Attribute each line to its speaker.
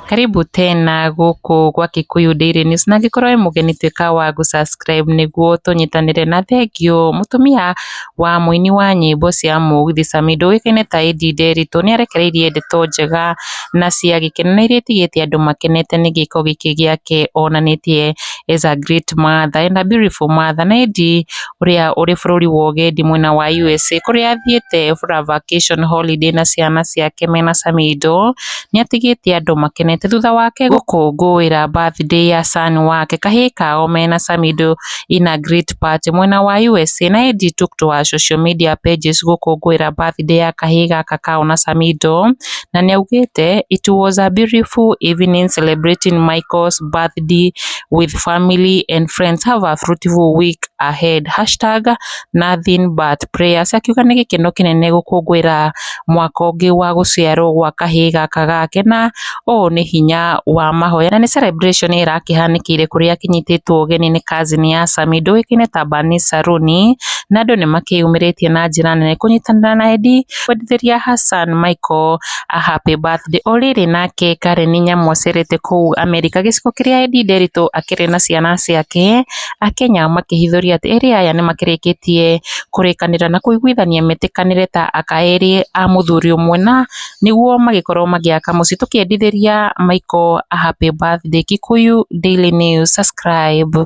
Speaker 1: Karibu tena gũkũ gwa Kikuyu Daily News na angĩkorwo wĩ mũgeni tuĩka wa gũ subscribe nĩguo tũnyitanĩre na thengiũ. Mũtumia wa mũini wa nyĩmbo cia mũgithi Samido ũĩkaine ta Eddie Nderitu nĩarekereirie ndeto njega na cia gĩkeno na iria itigĩte andũ makenete nĩ gĩko gĩkĩ gĩake onanĩtie as a great mother and a beautiful mother na Eddy ũrĩa ũrĩ bũrũri wa ũgendi mwena wa USA kũrĩa athiĩte for a vacation holiday na ciana ciake mena Samido nĩatigĩte andũ makenete thutha wake gũkũngũĩra birthday ya son wake kahĩĩ kao mena Samido in a great party mwena wa USA na Eddy took to her social media pages gũkũngũĩra birthday ya kahĩĩ gaka kao na Samido na nĩ augĩte it was a beautiful evening celebrating Michael's birthday with family and friends have a fruitful week ahead #nothing but prayers akiuga nĩ gĩkeno kĩnene gũkũngũĩra mwaka ũngĩ wa gũciarwo gwa kahĩĩ gaka gake na ũũ nĩ hinya wa mahoya na nĩ celebration ĩrakĩhanĩkĩire kũrĩa akĩnyitĩtwo ũgeni nĩ cousin ya Sami ndũĩkaine ta Bani Saruni na andũ nĩ makĩyumĩrĩtie na njĩra nene kũnyitanĩra na Eddie akĩbundithĩria Hassan Michael a Happy Birthday o rĩrĩ nake Karen Nyamoserete kũu Amerika gĩcigo kĩrĩa Edi Nderitu akĩrĩ na ciana ciake Akenya makĩhithũria atĩ erĩ aya nĩmakĩrĩkĩtie kũrĩkanĩra na kũiguithania metĩkanĩre ta aka erĩ a mũthuri ũmwe na nĩguo magĩkorwo magĩaka mũciĩ tũkĩendithĩria Michael a Happy Birthday Kikuyu Daily News Subscribe.